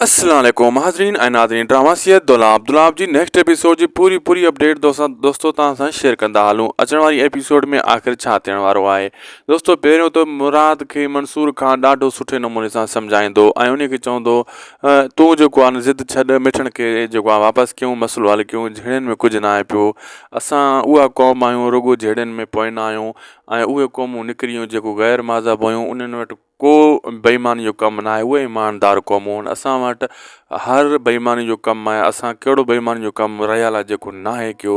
السلام عليڪم حاضرين ۽ ناظرين ڊراما سيد دولاب دولاب جي نيڪسٽ ايپيسوڊ جي پوري پوري اپڊيٽ دوستان دوستو توهان سان شيئر ڪندا هلون اچڻ واري ايپيسوڊ ۾ آخر ڇا ٿيڻ وارو آهي دوستو پهريون ته مراد کي منصور خان ڏاڍو سٺي نموني سان سمجهائيندو ۽ انهي کي چوندو تون جيڪو آن ضد ڇڏ مٺن کي جيڪو آن واپس ڪيون مسئلو حل ڪيون جهيڙين ۾ ڪجهه ناهي پيو اسان اها قوم آهيون رڳو جهيڙين ۾ پوئنا آهيون ۽ اهي قومون نڪريون جيڪو غير ماذهب هيون انهن وٽ ڪو بيماني جو ڪم ناهي اهي ايماندار قومون اسان وٽ هر بيماني جو ڪم آهي اسان ڪهڙو بيماني جو ڪم رهيل آهي جيڪو ناهي ڪيو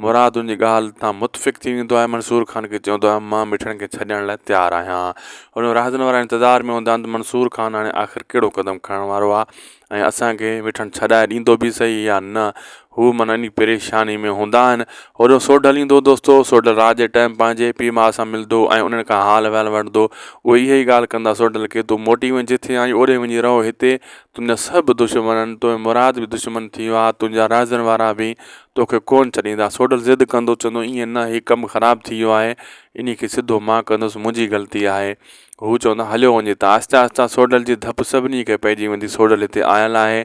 مراد ان جي ڳالهه تان متفق ٿي ويندو آهي منصور خان کي چوندو آهي مان مٺڙن کي ڇڏڻ لاء تيار آهيان هن راهدن وارا انتظار ۾ هوندا آهن ته منصور خان هاڻي آخر ڪهڙو قدم کڻڻ وارو آهي ۽ اسان کي وٺڻ ڇڏائي ڏيندو به سهي يا نه هو من اني پريشاني ۾ هوندا آهن هوڏو سوڍل ايندو دوستو سوڍل رات جي ٽائيم پنهنجي پيء ماء سان ملدو ۽ انهن کان حال وحال وٺدو اهي اها ئي ڳالهه ڪندا سوڍل کي تون موٽي وڃ جٿي آئين اوڏي وڃي رهو هتي تنهنجا سڀ دشمن توهين مراد به دشمن ٿي ويا تنهنجا رهزن وارا به توکي ڪونه ڇڏيندا سوڍل ضد ڪندو چوندو ائين نه هي ڪم خراب ٿي ويو آهي اني کي سڌو مان ڪندس منهنجي غلطي آهي هو چوندا هليو وڃي ته آهستي آهستي سوڍل جي ڌپ سڀني کي پئجي ويندي. سوڍل هتي آيل آهي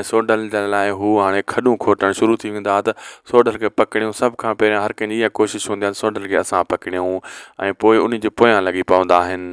۽ سوڍل جي لاء هو هاڻي کڏون کوٽڻ شروع ٿي ويندا ته سوڍل کي پڪڙيون. سڀ کان پهريان هر ڪنهن جي اها ڪوشش هوندي آهي ته سوڍل کي اسان پڪڙيون ۽ پوء انهي جي پويان لڳي پوندا آهن.